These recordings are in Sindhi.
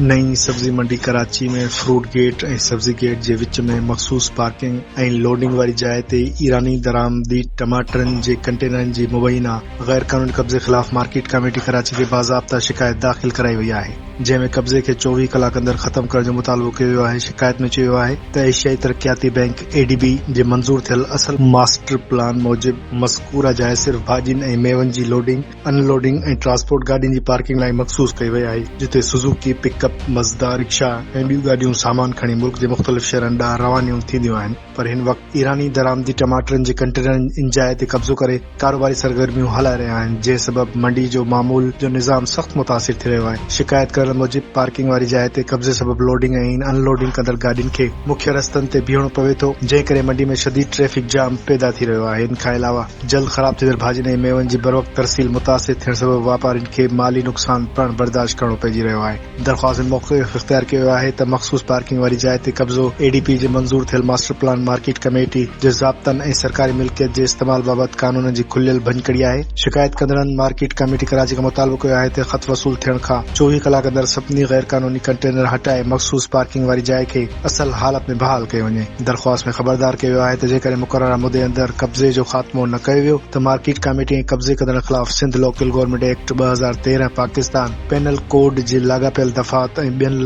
نئين سبزي منڊي ڪراچي ۾ فروٽ گيٽ ۽ سبزي گيٽ جي وچ ۾ مخصوص پارڪنگ ۽ لوڊنگ واري جاء تي ايراني درآمدي ٽماٽرن جي ڪنٽينرن جي مبينا غيرقانوني قبضي خلاف مارڪيٽ ڪميٽي ڪراچي کي باضابطه شڪايت داخل ڪرائي وئي آهي جنهن ۾ قبضي کي چوويهه ڪلاڪ اندر ختم ڪرڻ جو مطالبو ڪيو ويو آهي شڪايت ۾ چيو ويو آهي ته ايشيائي ترقياتي بئنڪ، اي ڊي بي، جي منظور ٿيل اصل ماسٽر پلان موجب مذڪوره جاء صرف ڀاڄين ۽ ميون جي لوڊنگ، ان لوڊنگ ۽ ٽرانسپورٽ گاڏين جي پارڪنگ لاء مخصوص ڪئي وئي آهي، جتي Suzuki, pickup, Mazda, rickshaw ۽ ٻيون گاڏيون سامان کڻي ملڪ جي مختلف شهرن ڏانهن روانيون ٿينديون آهن پر هن وقت ايراني درآمدي ٽماٽرن جي ڪنٽينرن ان جاء تي قبضو ڪري ڪاروباري سرگرميون هلائي رهيا آهن جنهن سبب منڊي جو معمول جو نظام سخت متاثر ٿي رهيو آهي شڪايت ڪرڻ موجب پارڪنگ واري جاء تي قبضي سبب لوڊنگ ۽ ان لوڊنگ ڪندڙ گاڏين کي مکيه رستن تي بيهڻو پوي ٿو جنهن ڪري منڊي ۾ شديد ٽريفڪ جام پيدا ٿي رهيو آهي ان کان علاوه جلد خراب ٿيندڙ ڀاڄين ۽ ميون جي بروقت ترسيل متاثر ٿيڻ سبب واپارين کي مالي نقصان پڻ برداشت ڪرڻو پئجي رهيو آهي. درخواست ۾ موقف اختيار ڪيو ويو آهي ته مخصوص پارڪنگ واري جاء تي قبضو اي ڊي پي جي منظور ٿيل ماسٽر پلان مارڪيٽ ڪميٽي جي ضابطن ۽ سرڪاري ملڪيت جي استعمال بابت قانون جي کليل ڀڃڪڙي آهي. شڪايت ڪندڙن مارڪيٽ ڪميٽي ڪراچي کان مطالبو ڪيو آهي ته خط وصول ٿيڻ کان چوويهه ڪلاڪ اندر سڀني غيرقانوني ڪنٽينر هٽائي مخصوص پارڪنگ واري جاء کي اصل حالت ۾ بحال ڪئي وڃي. درخواست ۾ خبردار ڪيو ويو آهي ته جيڪڏهن مقرره مدي اندر قبضي جو خاتمو نه ڪيو ويو ته مارڪيٽ ڪميٽي ۽ قبضي ڪندڙن خلاف سنڌ لوڪل گورنمينٽ ايڪٽ ٻه هزار تيرهن پاڪستان پينل ڪوڊ جي لاڳاپيل دفعات ۽ ٻين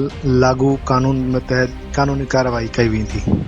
لاڳو قانونن تحت قانوني ڪارروائي ڪئي ويندي.